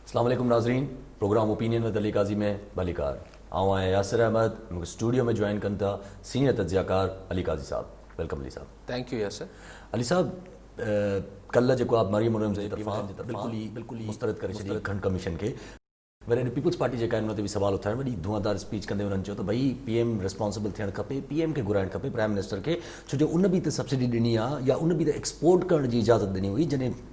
اسلام عليڪم ناظرين program opinion with Ali Qazi ۾ ڀليڪار آئون آهيان ياسر احمد مون کي اسٽوڊيو ۾ جوائن ڪن ٿا سينئر تجزيه ڪار علي قاضي صاحب ويلڪم علي صاحب. Thank you Yasir. علي صاحب ڪلهه جيڪو آپ مريم ارنز جي طرفان بلڪل ئي مسترد ڪري ڇڏي گهڻ ڪميشن کي وري اڏي پيپلز پارٽي جيڪا ان تي به سوال اٿايو وڏي ڌوئان دار اسپيچ ڪندي انهن چيو ته ڀئي پي ايم ريسپانسبل ٿيڻ کپي پي ايم کي گهرائڻ کپي پرائيم منسٽر کي ڇو جو ان به ته سبسڊي ڏني آ يا ان به ته ايڪسپورٽ ڪرڻ جي اجازت ڏني هئي جڏهن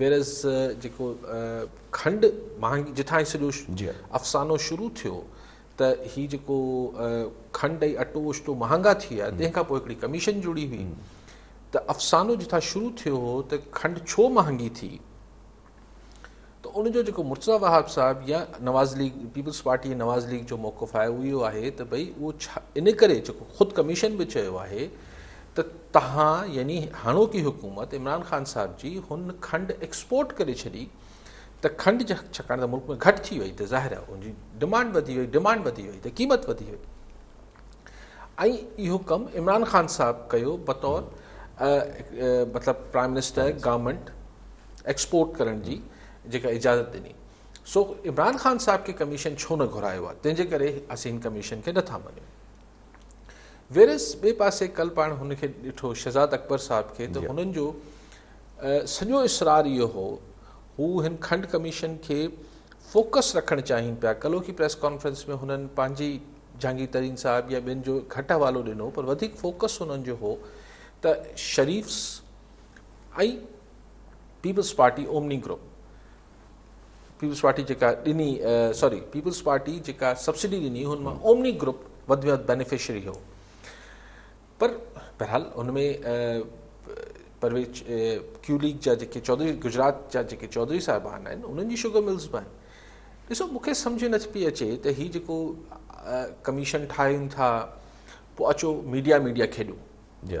ويريز جيڪو کنڊ مهانگي جتان هي سڄو افسانو شروع ٿيو ته هي جيڪو کنڊ ۽ اٽو وشٽو مهانگا ٿي ويا تنهن کان پوء هڪڙي ڪميشن جڙي هئي ته افسانو جتان شروع ٿيو هو ته کنڊ ڇو مهانگي ٿي ته ان جو جيڪو مرتضا وهاب صاحب يا Nawaz League Peoples Party Nawaz League جو موقف آهي اهو اهو آهي ته ڀئي اهو ان ڪري جيڪو خود ڪميشن به چيو آهي ته توهان يعني هاڻوڪي حڪومت عمران خان صاحب جي هن کنڊ ايڪسپورٽ ڪري ڇڏي ته کنڊ ڇڪاڻ ته ملڪ ۾ گهٽ ٿي وئي ته ظاهر آهي ان جي ڊمانڊ وڌي وئي ڊمانڊ وڌي وئي ته قيمت وڌي وئي ۽ اهو ڪم عمران خان صاحب ڪيو بطور مطلب پرائم منسٽر گورنمنٽ ايڪسپورٽ ڪرڻ جي جيڪا اجازت ڏني سو عمران خان صاحب کي ڪميشن ڇو نه گهرايو آهي تنهنجي ڪري اسين ڪميشن کي نٿا مڃون ويريس ٻئي پاسي ڪل پاڻ هن کي ڏٺو شهزاد اڪبر صاحب کي ته هنن جو سڄو اسرار اهو هو هو هن کنڊ ڪميشن کي فوڪس رکڻ چاهين پيا ڪلوڪي پريس ڪانفرنس ۾ هنن پنهنجي جهانگير ترين صاحب يا ٻين جو گهٽ حوالو ڏنو پر وڌيڪ فوڪس هنن جو هو ته Sharifs ۽ Peoples Party Omni group Peoples Party جيڪا ڏني سوري پيپلز پارٽي جيڪا سبسڊي ڏني هن مان اومني گروپ وڌ ۾ وڌ بينيفشري هو پر بهرحال ان ۾ پرويز ڪيو ليگ جا جيڪي چوڌري گجرات جا جيڪي چوڌري صاحبان آهن انهن جي شوگر ملز به آهن ڏسو مونکي سمجھ نه پئي اچي ته هي جيڪو ڪميشن ٺاهين ٿا پوء اچو ميڊيا ميڊيا کيڏو جي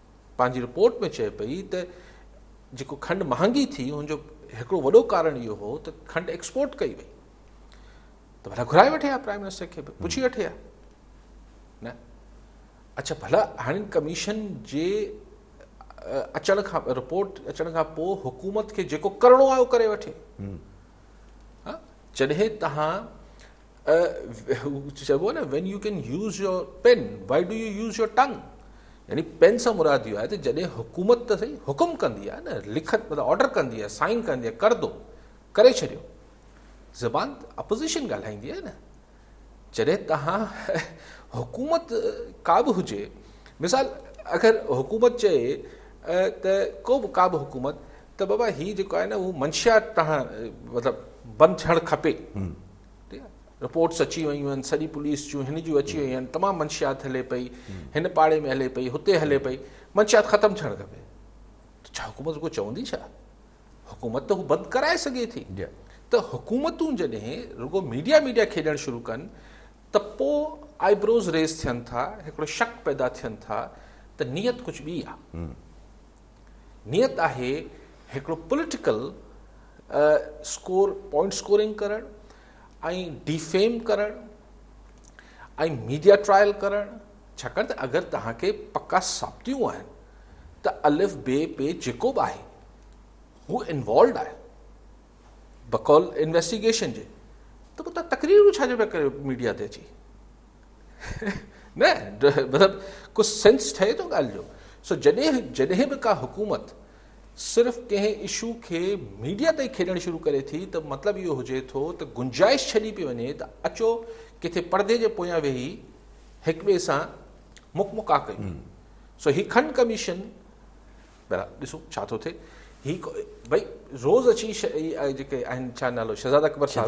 پنهنجي رپورٽ ۾ چئي پئي ته جيڪو کنڊ مهانگي ٿي ان جو هڪڙو وڏو ڪارڻ اهو هو ته کنڊ ايڪسپورٽ ڪئي وئي ته ڀلا گهرائي وٺي ها پرائم منسٽر کي به پڇي وٺي ها نه اچھا ڀلا هاڻي ڪميشن جي اچڻ کان رپورٽ اچڻ کان پوء حڪومت کي جيڪو ڪرڻو آهي اهو ڪري وٺي جڏهن تهان چئبو آهي نه when you can use your pen why do you use your tongue يعني پين سان مراد اهو آهي ته جڏهن حڪومت ته سهي حڪم ڪندي آهي نه لکت مطلب آرڊر ڪندي آهي سائن ڪندي آهي ڪر دو ڪري ڇڏيو زبان اپوزيشن ڳالهائيندي آهي نه جڏهن تهان حڪومت ڪا به هجي مثال اگر حڪومت چئي ته ڪو به ڪا به حڪومت ته بابا هي جيڪو آهي نه اهو منشيات تان مطلب بند ٿيڻ کپي رپورٽس اچي ويون آهن سڄي پوليس جون هن جون اچي ويون آهن تمام منشيات هلي پئي هن پاڙي ۾ هلي پئي هتي هلي پئي منشيات ختم ٿيڻ کپي ڇا حڪومت کو چوندي ڇا حڪومت ته هو بند ڪرائي سگهي ٿي ته حڪومتون جڏهن رڳو ميڊيا ميڊيا کيڏڻ شروع ڪن ته پوء آئي بروز ريز ٿين ٿا هڪڙو شڪ پيدا ٿين ٿا ته نيت ڪجهه ٻي آهي نيت آهي هڪڙو پوليٽيڪل اسڪور پوائنٽ اسڪورنگ ڪرڻ ۽ ڊيفيم ڪرڻ ۽ ميڊيا ٽرائل ڪرڻ ڇاڪاڻ ته اگر توهان کي پڪا ثابتيون آهن ته الف بي پي جيڪو به آهي هو انوالوڊ آهي بقول انويسٽيگيشن جي ته پوء تقريرون ڇا جو پيا ڪريو ميڊيا تي اچي نه مطلب ڪو سينس ٺهي ٿو ڳالهه جو سو جڏهن جڏهن به ڪا حڪومت صرف ڪنهن اشو کي ميڊيا تائين کيڏڻ شروع ڪري ٿي ته مطلب اهو هجي ٿو ته گنجائش ڇڏي پئي وڃي ته اچو ڪٿي پردي جي پويان ويهي هڪ ٻئي سان مک مڪا ڪيون سو هي کن ڪميشن ڏسو ڇا ٿو ٿئي هي بھي روز اچي جيڪي آهن ڇا نالو شهزاد اڪبر صاحب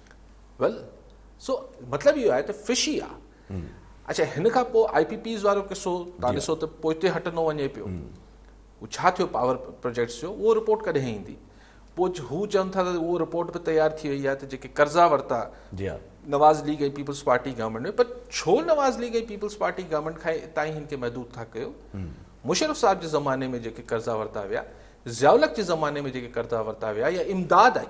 ويل سو مطلب اهو آهي ته فشي آ اڇا هن کان پوء آئي پي پيز وارو قصو تان ڏسو ته پوئتي هٽندو وڃي پيو هو ڇا ٿيو پاور پروجيڪٽس جو اهو رپورٽ ڪڏهن ايندي پوء هو چون ٿا ته اهو رپورٽ به تيار ٿي وئي آهي ته جيڪي قرضا ورتا Nawaz League ۽ Peoples Party government ۾ پر ڇو Nawaz League ۽ Peoples Party government کان اتان ئي هن کي محدود ٿا ڪيو مشرف صاحب جي زماني ۾ جيڪي قرضا ورتا ويا ضياء الحق جي زماني ۾ جيڪي قرضا ورتا ويا يا امداد آئي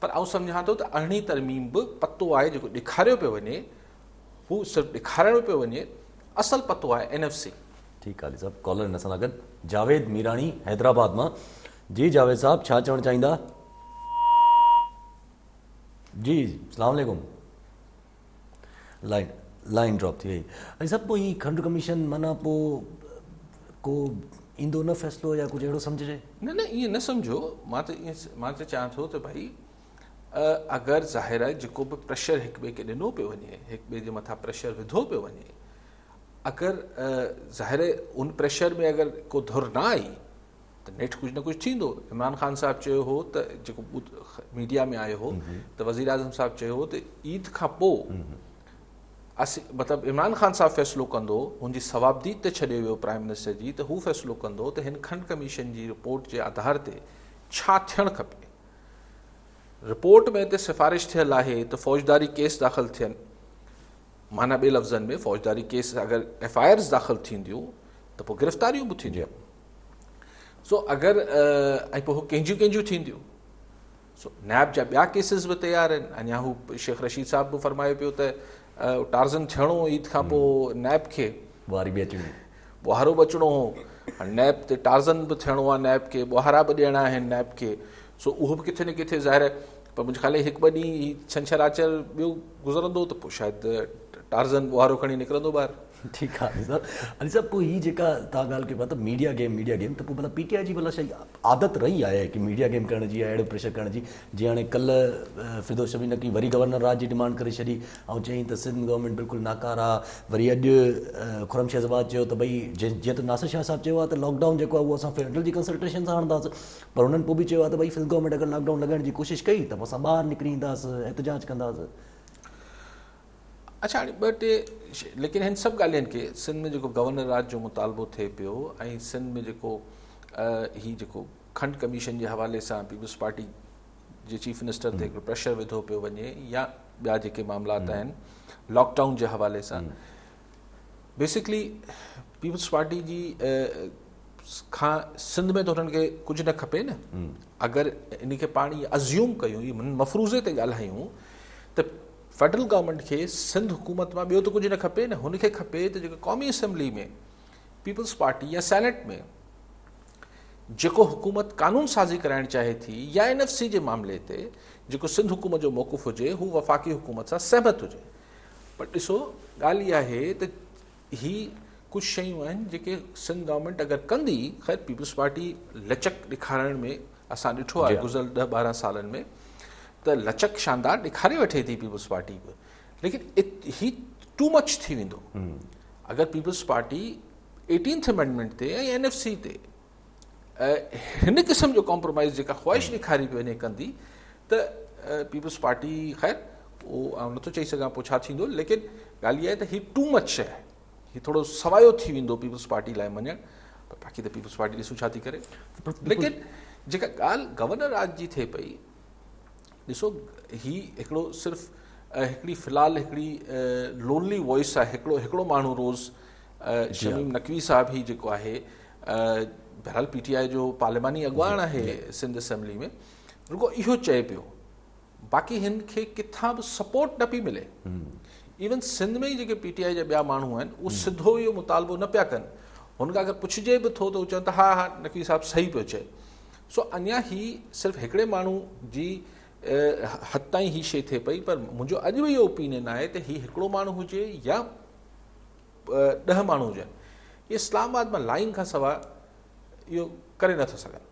پر آئون سمجهان ٿو ته ارڙهين ترميم به پتو آهي جيڪو ڏيکاريو پيو وڃي هو صرف ڏيکارڻو پيو وڃي اصل پتو آهي اين ايف سي. ٺيڪ علي صاحب ڪالر هن سان گڏ جاويد ميراڻي حيدرآباد مان جي جاويد صاحب ڇا چوڻ چاهيندا جي سلام عليڪم. لائن لائن ڊراپ ٿي وئي ۽ سڀ پوء هي کنڊ ڪميشن معنيٰ پوء ڪو ايندو نه فيصلو يا ڪجهه اهڙو سمجهجي نه نه ائين نه سمجهو مان ته ائين مان ته چيان ٿو ته ڀائي اگر ظاهر آهي جيڪو به پريشر هڪ ٻئي کي ڏنو پيو وڃي هڪ ٻئي جي مٿان پريشر وڌو پيو وڃي اگر ظاهر ان پريشر ۾ اگر ڪو ڌر نه آئي ته نيٺ ڪجهه نه ڪجهه ٿيندو عمران خان صاحب چيو هو ته جيڪو ميڊيا ۾ آيو هو ته وزير اعظم صاحب چيو هو ته عيد کان پوء مطلب عمران خان صاحب فيصلو ڪندو هن جي ثوابديد ته ڇڏي ويو پرائم منسٽر جي ته هو فيصلو ڪندو ته هن کنڊ ڪميشن جي رپورٽ جي آڌار تي ڇا ٿيڻ کپي رپورٽ ۾ ته سفارش ٿيل آهي ته فوجداري ڪيس داخل ٿين معنی ٻي لفظن ۾ فوجداري ڪيس اگر ايف آئي آرز داخل ٿينديون ته پوء گرفتاريون به ٿينديون سو اگر ۽ پوء هو ڪنهنجيون ڪنهنجيون ٿينديون؟ سو نيب جا ٻيا ڪيسز به تيار آهن اڃا هو شيخ رشيد صاحب به فرمايو پيو ته ٽارزن ٿيڻو عيد کان پوء نيب کي ٻوهاري به اچڻي ٻوهارو به اچڻو هو نيب تي ٽارزن به ٿيڻو آهي نيب کي ٻوهارا به ڏيڻا آهن نيب کي سو اهو به ڪٿي نه ڪٿي ظاهر آهي پر منهنجي خيال هڪ ٻه ڏينهن ڇنڇر آچر ٻيو گذرندو ته پوء شايد ٽارزن ٻوهارو کڻي نڪرندو ٻاهر ٺيڪ آ علي صاحب. علي صاحب پوء هي جيڪا توهان ڳالهه ڪيو پيا ته ميڊيا گيم ميڊيا گيم ته پوء ڀلا پي ٽي آء جي ڀلا شايد عادت رهي آهي ڪي ميڊيا گيم ڪرڻ جي يا اهڙو پريشر ڪرڻ جي جيئن هاڻي ڪلهه فردوس شميم نه ڪئي وري گورنر راڄ جي ڊمانڊ ڪري ڇڏي ۽ چيائين ته سنڌ گورنمينٽ بلڪل ناڪاره آ وري اڄ خرم شيخ زباد چيو ته ڀئي جيئن ته ناصر شاهه صاحب چيو آ ته لاڪ ڊائون جيڪو آ اهو اسان فيڊرل جي ڪنسلٽيشن سان هڻنداس پر هنن پوء به چيو آ ته ڀئي سنڌ گورنمينٽ اگر لاڪ ڊائون لڳائڻ جي ڪوشش ڪئي ته پوء اسان ٻاهر نڪري اينداس احتجاج ڪنداس. اڇا هاڻي ٻه ٽي ليڪن هن سڀ ڳالهين کي سنڌ ۾ جيڪو گورنر راڄ جو مطالبو ٿئي پيو ۽ سنڌ ۾ جيڪو هي جيڪو کنڊ ڪميشن جي حوالي سان پيپلز پارٽي جي چيف منسٽر تي هڪڙو پريشر وڌو پيو وڃي يا ٻيا جيڪي معاملات آهن لاڪ ڊائون جي حوالي سان بيسڪلي پيپلز پارٽي جي کان سنڌ ۾ ته هنن کي ڪجهه نه کپي نه اگر ان کي پاڻ ازيوم ڪيون مفروضي تي ڳالهايون ته فيڊرل گورنمينٽ کي سنڌ حڪومت مان ٻيو ته ڪجهه نه کپي نه هن کي کپي ته جيڪو قومي اسيمبلي ۾ پيپلز پارٽي يا سينيٽ ۾ جيڪو حڪومت قانون سازي ڪرائڻ چاهي ٿي يا اين ايف سي جي معاملي تي جيڪو سنڌ حڪومت جو موقف هجي هو وفاقي حڪومت سان سهمت هجي پر ڏسو ڳالهه اها آهي ته هي ڪجهه شيون آهن جيڪي سنڌ گورنمينٽ اگر ڪندي خير پيپلز پارٽي لچڪ ڏيکارڻ ۾ اسان ڏٺو آهي گذريل ڏهه ٻارهن سالن ۾ ته لچڪ شاندار ڏيکاري وٺي ٿي پيپلز پارٽي به ليڪن هي ٽو مچ ٿي ويندو اگر پيپلز پارٽي ايٽينٿ امينڊمنٽ تي ۽ اين ايف سي تي هن قسم جو ڪامپرومائيز جيڪا خواهش ڏيکاري پيو وڃي ڪندي ته پيپلز پارٽي خير اهو نٿو چئي سگهان پوء ڇا ٿيندو ليڪن ڳالهه اها آهي ته هي ٽو مچ شي آهي هي ٿورو سوايو ٿي ويندو پيپلز پارٽي لاء مڃڻ پر باقي ته پيپلز پارٽي ڏسون ڇا ٿي ڪري ليڪن جيڪا ڳالهه گورنر راج جي ٿئي پئي ڏسو هي هڪڙو صرف هڪڙي في الحال هڪڙي لونلي وائس آهي هڪڙو هڪڙو ماڻهو روز شميم نقوي صاحب هي جيڪو آهي بهرحال پي ٽي آء جو پارلياماني اڳواڻ آهي سنڌ اسيمبلي ۾ رڳو اهو چئي پيو باقي هن کي ڪٿان به سپورٽ نه پي ملي ايون سنڌ ۾ جيڪي پي ٽي آء جا ٻيا ماڻهو آهن اهو سڌو اهو مطالبو نه پيا ڪن هن کان اگر پڇجي به ٿو ته چون ٿا ها ها نقوي صاحب صحيح پيو چئي سو اڃا هي صرف هڪڙي ماڻهو جي حد تائين هي شي ٿئي پئي پر منهنجو اڄ به اهو اوپينين آهي ته هي هڪڙو ماڻهو هجي يا ڏهه ماڻهو هجن اهي اسلام آباد مان لائين کان سواء اهو ڪري نٿا سگهن.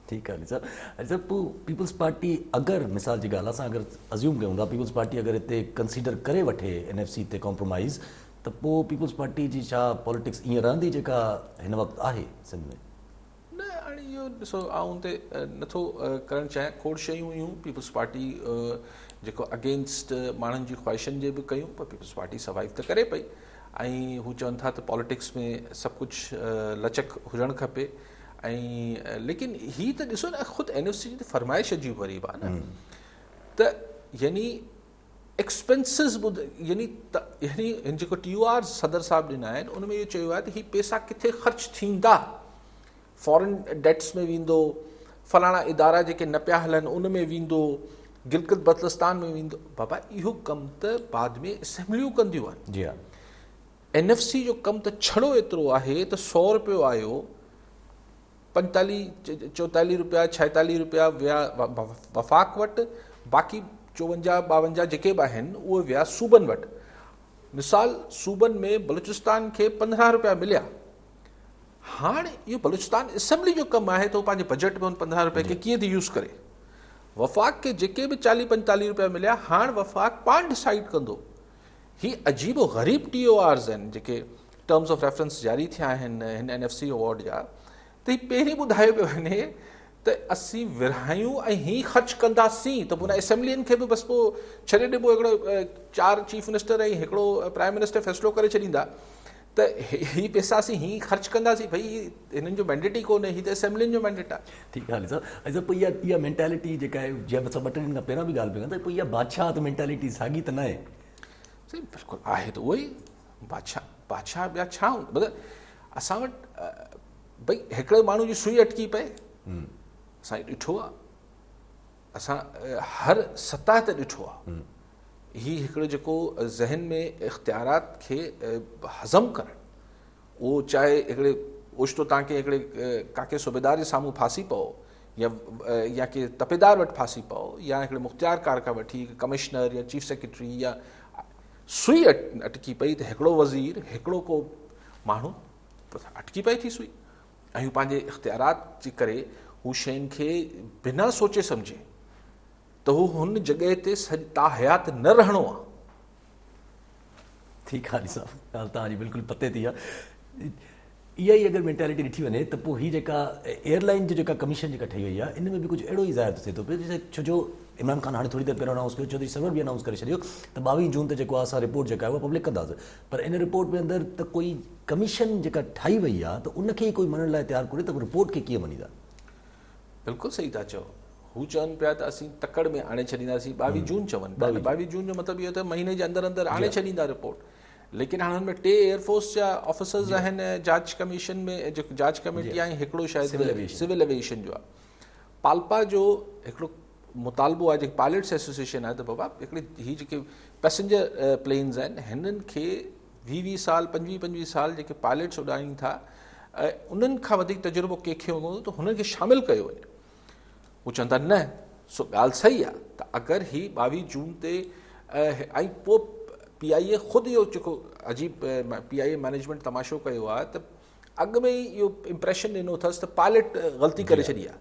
ٺيڪ آهي علي صاحب. علي صاحب پوء پيپلز پارٽي اگر مثال جي ڳالهه اسان اگر ازيوم ڪيون ٿا پيپلز پارٽي اگر هتي ڪنسيڊر ڪري وٺي اين ايف سي تي ڪامپرومائيز ته پوء پيپلز پارٽي جي ڇا پاليٽڪس ائين رهندي جيڪا هن وقت آهي سنڌ ۾؟ نه هاڻي اهو ڏسو آئون ته نٿو ڪرڻ چاهيان کوڙ شيون هيون پيپلز پارٽي جيڪو اگينسٽ ماڻهن جي خواهشن جي به ڪيون پر پيپلز پارٽي سروائيو ته ڪري پئي ۽ هو چون ٿا ته پاليٽڪس ۾ سڀ ڪجهه لچڪ هجڻ کپي ۽ ليڪن هي ته ڏسو نه خود اين او سي جي فرمائش عجيب غريب آهي نه ته يعني ايڪسپينسز ٻڌ يعني يعني هن جيڪو ٽي يو آرز صدر صاحب ڏنا آهن ان ۾ اهو چيو آهي ته هي پيسا ڪٿي خرچ ٿيندا فارن ڊيٽس ۾ ويندو فلاڻا ادارا جيڪي نه پيا هلن ان ۾ ويندو گلگت بلتستان ۾ ويندو بابا اهو ڪم ته بعد ۾ اسيمبليون ڪنديون آهن جي ها اين ايف سي جو ڪم ته ڇڙو ايترو آهي ته سؤ روپيو آيو پنجتاليهه چوتاليهه روپيا ڇاهيتاليهه روپيا ويا وفاق وٽ باقي چوونجاهه ٻاونجاهه جيڪي به آهن اهي ويا صوبن وٽ مثال صوبن ۾ بلوچستان کي پندرهن روپيا مليا هاڻ اهو بلوچستان اسيمبلي جو ڪم آهي ته هو پنهنجي بجيٽ ۾ ان پندرهن روپيا کي ڪيئن ٿي يوز ڪري وفاق کي جيڪي به چاليهه پنجتاليهه روپيا مليا هاڻ وفاق پاڻ ڊسائيڊ ڪندو هي عجيب و غريب ٽي او آرز آهن جيڪي ٽرمز آف ريفرنس جاري ٿيا آهن هن اين ايف سي اوارڊ جا ته هي پهرين ٻڌايو پيو وڃي ته اسين ورهايون ۽ هي خرچ ڪنداسين ته پوء اسيمبلين کي به بس پوء ڇڏي ڏبو هڪڙو چار چيف منسٽر ۽ هڪڙو پرائم منسٽر فيصلو ڪري ڇڏيندا ته هي پيسا اسين هيئن ئي خرچ ڪنداسين ڀئي هي هنن جو مينڊيٽ ئي ڪونهي هي ته اسيمبلين جو مينڊيٽ آهي. ٺيڪ آهي صاحب ۽ صاحب پوء اها اها مينٽالٽي جيڪا آهي جنهن اسان ٻه ٽي ڏينهن کان پهريان به ڳالهه پي ڪن ته پوء اها بادشاهت مينٽالٽي ساڳي ته ناهي. سائين بلڪل آهي ته اهو ئي بادشاهه بادشاهه ٻيا ڇا هوندا مطلب اسان وٽ ڀئي هڪڙي ماڻهو جي سوئي اٽڪي پئي اسان ڏٺو آهي اسان هر سطح تي ڏٺو آهي هي هڪڙو جيڪو ذهن ۾ اختيارات کي هضم ڪرڻ اهو چاهي هڪڙي اوچتو تان ڪنهن هڪڙي ڪاڪي صوبيدار جي سامهون ڦاسي پئو يا يا ڪي تپيدار وٽ ڦاسي پئو يا هڪڙي مختيار کار کان وٺي هڪ ڪمشنر يا چيف سيڪريٽري يا سوئي اٽڪي پئي ته هڪڙو وزير هڪڙو ڪو ماڻهو اٽڪي پئي ٿي سوئي ۽ هو پنهنجي اختيارات جي ڪري هو شين کي بنا سوچي سمجهي ته هو هن جڳهه تي سڄ تاحيات نه رهڻو آ. ٺيڪ آ علي صاحب ڳالهه توهان جي بلڪل پتي تي آ. اها ئي اگر مينٽالٽي ڏٺي وڃي ته پوء هي جيڪا ايئرلائين جي جيڪا ڪميشن جيڪا ٺهي وئي آ ان ۾ به ڪجهه اهڙو ئي ظاهر ٿو ٿئي ٿو پيو ڇو جو عمران خان هاڻي ٿوري دير پهريون انائونس ڪيو چوڌري سرور به انائونس ڪري ڇڏيو ته ٻاويهه جون تي جيڪو آ اسان رپورٽ جيڪا آهي اها پبلڪ ڪنداس پر ان رپورٽ ۾ اندر ته ڪوئي ڪميشن جيڪا ٺاهي وئي آ ته ان کي ئي ڪوئي مڃڻ لاء تيار ڪونهي ته رپورٽ کي ڪيئن مڃيندا. بلڪل صحيح ٿا چئو هو چون پيا ته اسين تڪڙ ۾ آڻي ڇڏينداسين ٻاويهه جون چون پيا نه ٻاويهه جون جو مطلب اهو ته مهيني جي اندر اندر آڻي ڇڏيندا رپورٽ ليڪن هاڻ هن ۾ ٽي ايئر فورس جا آفيسرز آهن جاچ ڪميشن ۾ جيڪو جاچ ڪميٽي آهي هڪڙو شايد سول اويشن جو آهي پالپا جو هڪڙو مطالبو آهي جيڪي پائلٽس ايسوسيشن آهي ته بابا هڪڙي هي جيڪي پيسنجر پلينز آهن هنن کي ويهه ويهه سال پنجويهه پنجويهه سال جيڪي پائليٽس اڏارين ٿا انهن کان وڌيڪ تجربو ڪنهن کي هوندو ته هنن کي شامل ڪيو وڃي هو چون ٿا نه سو ڳالهه صحيح آهي ته اگر هي ٻاويهه جون تي ۽ پوء پي آء اي خود اهو جيڪو عجيب پي آء اي مئنيجمينٽ تماشو ڪيو آهي ته اڳ ۾ ئي اهو امپريشن ڏنو اٿس ته پائليٽ غلطي ڪري جي ها. ڇڏي آهي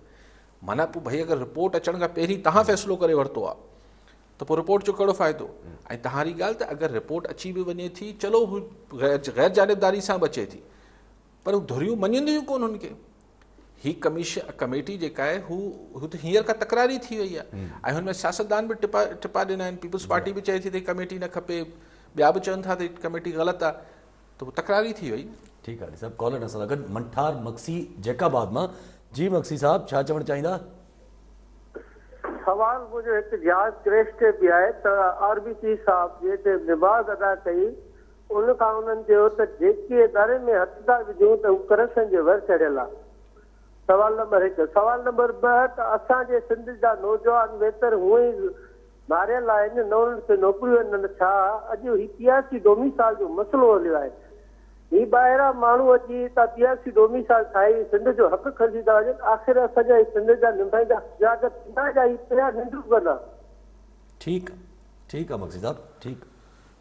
معنيٰ پوء ڀئي اگر رپورٽ اچڻ کان پهرين تهان فيصلو ڪري ورتو آهي ته پوء رپورٽ جو ڪهڙو فائدو؟ ۽ تهاري ڳالهه ته اگر رپورٽ اچي به وڃي ٿي چلو هو غير جانبداري سان به اچي ٿي پر ڌريون مڃينديون ڪون هن کي. هي ڪميشن ڪميٽي جيڪا آهي هو هو ته هينئر کان تڪراري ٿي وئي آهي ۽ هن ۾ سياستدان به ٽپا ٽپا ڏنا آهن پيپلز پارٽي به چئي ٿي ته هي ڪميٽي نه کپي ٻيا به چون ٿا ته هي ڪميٽي غلط آهي ته تڪرار ئي ٿي وئي نه. ٺيڪ آهي صاحب ڪالر اسان سان گڏ منٺار مگسي جيڪب آباد مان جي مگسي صاحب ڇا چوڻ چاهيندا؟ سوال منهنجو هڪ جهاز ڪريش تي به آهي ته آر بي پي صاحب جي ٽيم نماز ادا ڪئي ان کان انهن چيو ته جيڪي اداري ۾ هٿ ٿا وجهون ته هو ڪرپشن جي ور چڙهيل آ سوال نمبر هڪ. سوال نمبر ٻه ته اسان جي سنڌ جا نوجوان ويتر هونء ئي ماريل آهن نه انهن کي نوڪريون آهن نه ڇا اڄ هي پياسي ڊوميسال جو مسئلو هليو آهي هي ٻاهران ماڻهو اچي هتان پياسي ڊوميسال ٺاهي سنڌ جو حق کسيندا وڃن آخر اسان جا هي سنڌ جا نمائندا سجاڳ ٿيندا يا هي پيا ننڊون ڪندا. ٺيڪ ٺيڪ آ مگسي صاحب ٺيڪ.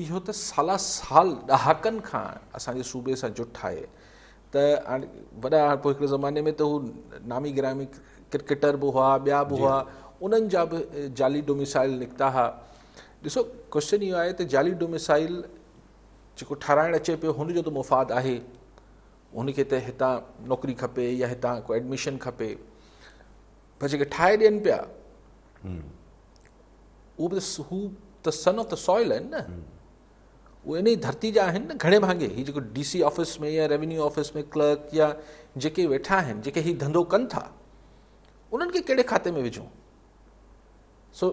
اهو ته سالا سال ڏهاڪن کان اسان جي صوبي سان جٺ آهي ته هاڻي وڏا پوء هڪڙي زماني ۾ ته هو نامي گرامي ڪرڪيٽر به هئا ٻيا به هئا انهن جا به جعلي ڊوميسائل نڪتا ها ڏسو ڪوشچن اهو آهي ته جعلي ڊوميسائل جيڪو ٺاراهڻ اچي پيو هن جو ته مفاد آهي هن کي ته هتان نوڪري کپي يا هتان ڪو ايڊميشن کپي پر جيڪي ٺاهي ڏين پيا اهو به هو ته سن آف ته سوائل آهن نه اهو ان جي ڌرتي جا آهن نه گهڻي ڀاڱي هي جيڪو ڊي سي آفيس ۾ يا ريونيو آفيس ۾ ڪلرڪ يا جيڪي ويٺا آهن جيڪي هي ڌنڌو ڪن ٿا انهن کي کي کاتي ۾ وجھون سو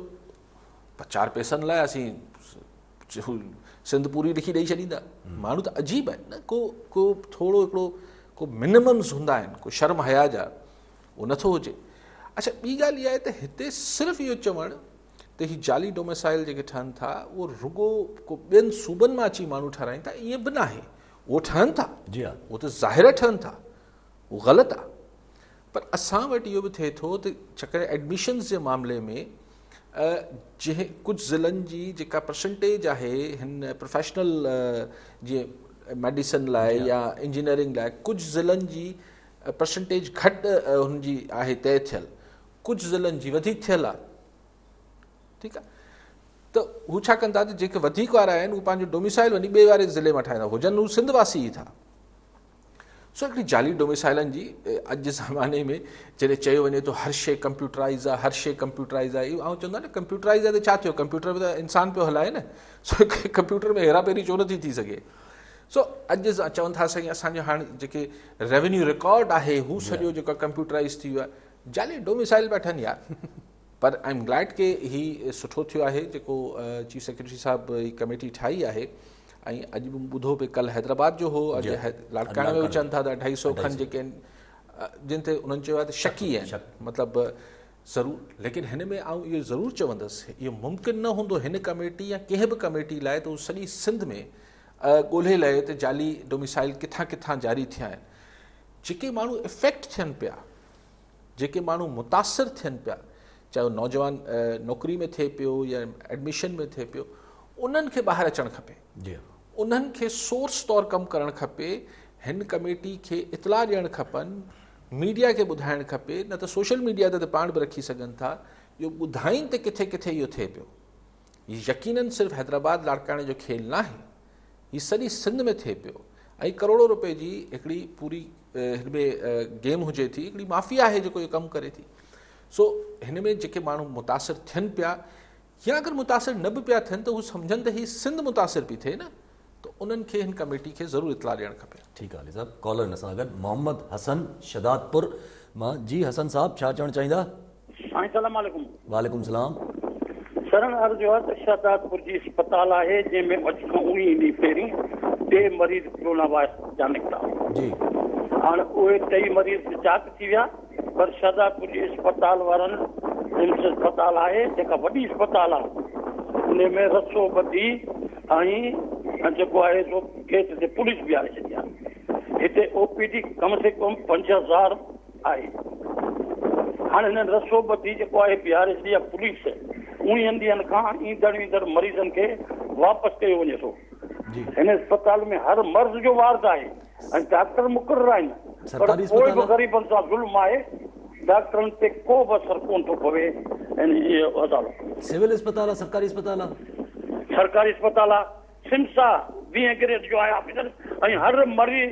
چار پيسن لاء اسين سنڌ پوري لکي ڏيئي ڇڏيندا ماڻهو ته عجيب آهن نه کو کو تھوڑو هڪڙو کو منممس هوندا آهن کو شرم حيا جا اهو نه ٿو هجي. اڇا ٻي ڳالهه اها آهي ته هتي صرف اهو چوڻ ته هي جعلي ڊوميسائل جيڪي ٺهن ٿا اهو رڳو ڪو ٻين صوبن مان اچي ماڻهو ٺهرائين ٿا ائين به ناهي اهو ٺهن ٿا اهو ته ظاهر آهي ٺهن ٿا اهو غلط آهي پر اسان وٽ اهو به ٿئي ٿو ته ڇڪري ايڊميشنز جي معاملي ۾ جنهن ڪجهه ضلعن جي جيڪا پرسنٽيج آهي هن پروفيشنل جي ميڊيسن لاء يا انجنيئرنگ لاء ڪجهه ضلعن جي پرسنٽيج گهٽ هن جي آهي طئي ٿيل ڪجهه ضلعن جي وڌيڪ ٿيل آهي ٺيڪ آهي ته هو ڇا ڪن ٿا ته جيڪي وڌيڪ وارا آهن اهو پنهنجو ڊوميسائل وڃي ٻئي واري ضلعي مان ٺاهيندا هجن هو سنڌ واسي ئي ٿا سو هڪڙي جالي ڊوميسائلن جي اڄ جي زماني ۾ جڏهن چيو وڃي ٿو هر شيء ڪمپيوٽرائز آهي هر شيء ڪمپيوٽرائز آهي اهو چوندو آهي نه ڪمپيوٽرائز آهي ته ڇا ٿيو ڪمپيوٽر ۾ ته انسان پيو هلائي نه سو ڪمپيوٽر ۾ هيرا پيري ڇو نٿي ٿي سگهي سو اڄ اسان چون ٿا سائين اسان جو هاڻ جيڪي ريونيو رڪارڊ آهي هو سڄو جيڪو ڪمپيوٽرائز ٿي ويو آهي جعلي ڊوميسائل پيا ٺهن يار پر آء ايم گليڊ ڪي هي سٺو ٿيو آهي جيڪو چيف سيڪريٽري صاحب هي ڪميٽي ٺاهي آهي ۽ اڄ به ٻڌو پي ڪل حيدرآباد جو هو اڄ لاڙڪاڻي ۾ اچن ٿا ته اڍائي سو کن جيڪي آهن جن تي انهن چيو آهي ته شڪي آهن مطلب ضرور ليڪن هن ۾ آئون اهو ضرور چوندس اهو ممڪن نه هوندو هن ڪميٽي يا ڪنهن به ڪميٽي لاء ته سڄي سنڌ ۾ ڳولهي لهي ته جعلي ڊوميسائيل ڪٿان ڪٿان جاري ٿيا آهن. جيڪي ماڻهو افيڪٽ ٿين پيا، جيڪي ماڻهو متاثر ٿين پيا، چاهي اهو نوجوان نوڪري ۾ ٿئي پيو يا ايڊميشن ۾ ٿئي پيو، انهن کي ٻاهر اچڻ کپي. انهن کي سورس طور ڪم ڪرڻ کپي. هن ڪميٽي کي اطلاع ڏيڻ کپن، ميڊيا کي ٻڌائڻ کپي، نه ته سوشل ميڊيا تي ته پاڻ به رکي سگهن ٿا، اهو ٻڌائين ته ڪٿي ڪٿي اهو ٿئي پيو. هي يقينن صرف حيدرآباد لاڙڪاڻي جو کيل ناهي، هي سڄي سنڌ ۾ ٿئي پيو ۽ ڪروڙو روپئي جي هڪڙي پوري هن ۾ گيم هجي ٿي، هڪڙي مافيا آهي جيڪو اهو ڪم ڪري ٿي. سو هن ۾ جيڪي ماڻهو متاثر ٿين پيا يا اگر متاثر نه به پيا ٿين ته هو سمجهن ته هي سنڌ متاثر پي ٿئي نه. ته انهن کي هن ڪميٽي کي ضرور اطلاع ڏيڻ کپي. ٺيڪ آ علي صاحب ڪالر ان سان گڏ محمد حسن شھدادپور مان جي حسن صاحب ڇا چوڻ چاھيندا. سائين سلام عليڪم. وعليڪم سلام. سرن عرض اھا ته شھدادپور جي اسپتال آھي جنھن ۾ اڄ کان اوڻيھ ڏينھن پھرين ٽي مريض ڪرونا وائرس جا نڪتا. جي. ھاڻ اھي ٽئي مريض چاڪ ٿي ويا. پر شهدا ڪجهه اسپتال وارن رمس اسپتال آهي جيڪا وڏي اسپتال آهي ان ۾ رسو ٻڌي ۽ جيڪو آهي سو گيٽ تي پوليس بيهاري ڇڏي آهي هتي او پي ڊي ڪم سي ڪم پنج هزار آهي هاڻي هنن رسو ٻڌي جيڪو آهي بيهاري ڇڏي آهي پوليس اڻيهن ڏينهن کان ايندڙ ويندڙ مريضن کي واپس ڪيو وڃي ٿو هن اسپتال ۾ هر مرض جو وارد آهي ۽ ڊاڪٽر مقرر آهن پر پوء به غريبن سان ظلم آهي، ڊاڪٽرن تي ڪو به اثر ڪونه ٿو پوي عدالت. سول اسپتال آ سرڪاري اسپتال آ. سرڪاري اسپتال آ سمس آ ٻين گريڊ جو آهي آڪسيجن ۽ هر مري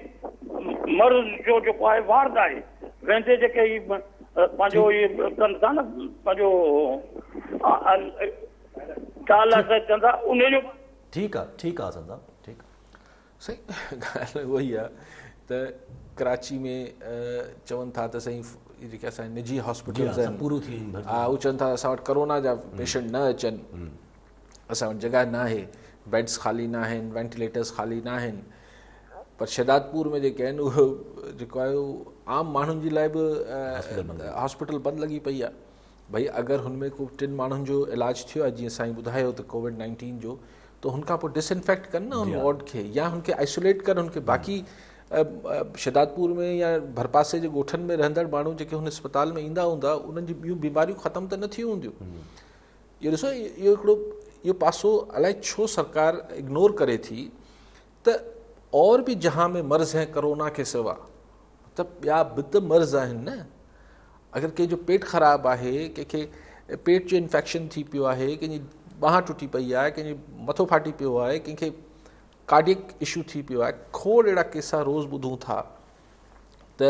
مرض جو جيڪو آهي وارڊ آهي ويندي جيڪي هي پنهنجو هي ڪن ٿا نه پنهنجو ڊائلاسس ڪن ٿا ان جو ٺيڪ آ ٺيڪ آ حسن صاحب ٺيڪ آ. سائين ڳالهه اها ئي آ ته ڪراچي ۾ چون ٿا ته سائين جيڪي اسان نجي هاسپيٽلز آهن پورو ٿي ويون ها هو چون ٿا اسان وٽ ڪرونا جا پيشنٽ نه اچن اسان وٽ جڳهه نه آهي بيڊز خالي نه آهن وينٽيليٽرز خالي نه آهن پر شهدادپور ۾ جيڪي آهن اهو جيڪو آهي عام ماڻهن جي لاء به هاسپيٽل بند لڳي پئي آهي ڀئي اگر هن ۾ ڪو ٽن ماڻهن جو علاج ٿيو آهي جيئن سائين ٻڌايو ته ڪووڊ نائنٽين جو ته هن کان پوء ڊس انفيڪٽ ڪن نه هن وارڊ کي يا هن کي آئسوليٽ ڪن هن کي باقي شدادپور ۾ يا ڀرپاسي جي ڳوٺن ۾ رهندڙ ماڻهو جيڪي هن اسپتال ۾ ايندا هوندا انهن جي ٻيون بيماريون ختم ته نه ٿيون هونديون اهو ڏسو اهو هڪڙو اهو پاسو الائي ڇو سرڪار اگنور ڪري ٿي ته اور به جهان ۾ مرض هين ڪرونا کي سوا ته ٻيا به ته مرض آهن نه اگر ڪنهن جو پيٽ خراب آهي ڪنهن کي پيٽ جو انفيڪشن ٿي پيو آهي ڪنهن جي ٻانهن ٽٽي پئي آهي ڪنهن جي مٿو ڦاٽي پيو آهي ڪنهن کي ڪارڊيڪ اشو ٿي پيو آهي کوڙ اهڙا ڪيسا روز ٻڌون ٿا ته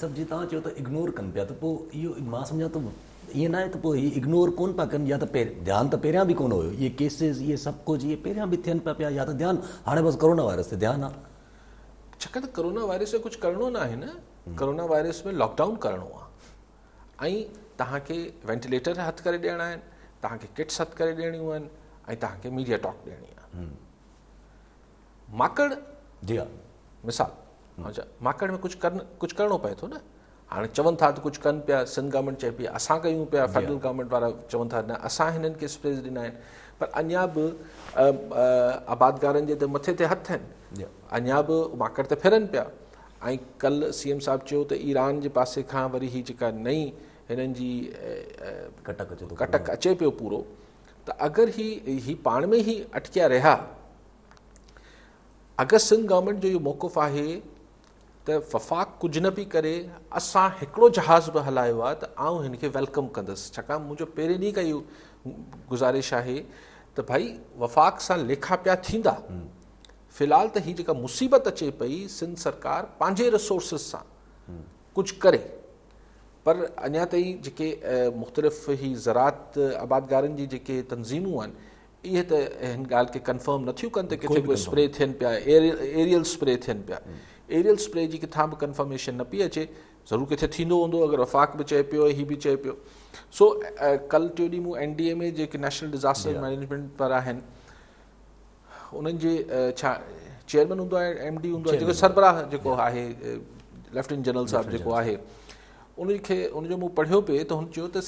سر جي توهان چيو ته اگنور ڪن پيا ته پوء اهو مان سمجهان ٿو ائين ناهي ته پوء هي اگنور ڪون پيا ڪن يا ته ڌيان ته پهريان به ڪون هيو اهي ڪيسز اهي سڀ ڪجهه اهي پهريان به ٿين پيا پيا يا ته ڌيان هاڻي بس ڪورونا وائرس تي ڌيان آهي ڇاڪاڻ ته ڪورونا وائرس کي ڪجهه ڪرڻو نه آهي نه ڪورونا وائرس ۾ لاڪ ڊائون ڪرڻو آهي ۽ توهان کي وينٽيليٽر هٿ ڪري ڏيڻا آهن توهان کي ڪٽس هٿ ڪري ڏيڻيون آهن ۽ توهان کي ميڊيا ٽاڪ ڏيڻي آهي ماڪڙ جي ها مثال اچا ماڪڙ ۾ ڪجهه ڪرن ڪجهه ڪرڻو پئي ٿو نه هاڻي چون ٿا ته ڪجهه ڪن پيا سنڌ گورنمنٽ چئي پيا اسان ڪيون پيا فيڊرل گورنمنٽ وارا چون ٿا نه اسان هنن کي اسپيس ڏنا آهن پر اڃا به آبادگارن جي ته مٿي تي هٿ آهن اڃا به ماڪڙ ته ڦرن پيا ۽ ڪل سی ايم صاحب چيو ته ايران جي پاسي کان وري هي جيڪا نئين هنن جي ڪٽڪ اچي پيو پورو ته اگر هي هي پاڻ ۾ هي اٽڪيا رهيا اگر سنڌ گورنمينٽ جو اهو موقف آهي ته وفاق ڪجهه نه پي ڪري اسان هڪڙو جهاز به هلايو آهي ته آئون هن کي ويلڪم ڪندس ڇاڪاڻ منهنجو پهرين ڏينهن کان اهو گزارش آهي ته ڀائي وفاق سان ليکا پيا ٿيندا في الحال ته هي جيڪا مصيبت اچي پئي سنڌ سرڪار پنهنجي رسورسز سان ڪجهه ڪري پر اڃا تائين جيڪي مختلف هي زراعت آبادگارن جي جيڪي تنظيمون آهن اهي ته هن ڳالهه کي ڪنفرم نٿيون ڪن ته ڪٿي ڪو اسپري ٿين پيا ايريل اسپري ٿين پيا ايريل اسپري جي ڪٿان به ڪنفرميشن نه پئي اچي ضرور کٿي ٿيندو هوندو اگر وفاق به چئي پيو هي به چئي پيو سو ڪل ٽيو ڏينهن مون اين ڊي ايم اي جيڪي نيشنل ڊزاسٽر مينجمنٽ پر آهن انهن جي ڇا چيئرمين هوندو آهي ايم ڊي هوندو آهي جيڪو سربراهه جيڪو آهي ليفٽيننٽ جنرل صاحب جيڪو آهي ان کي ان جو مون پڙهيو پئي ته هن چيو ته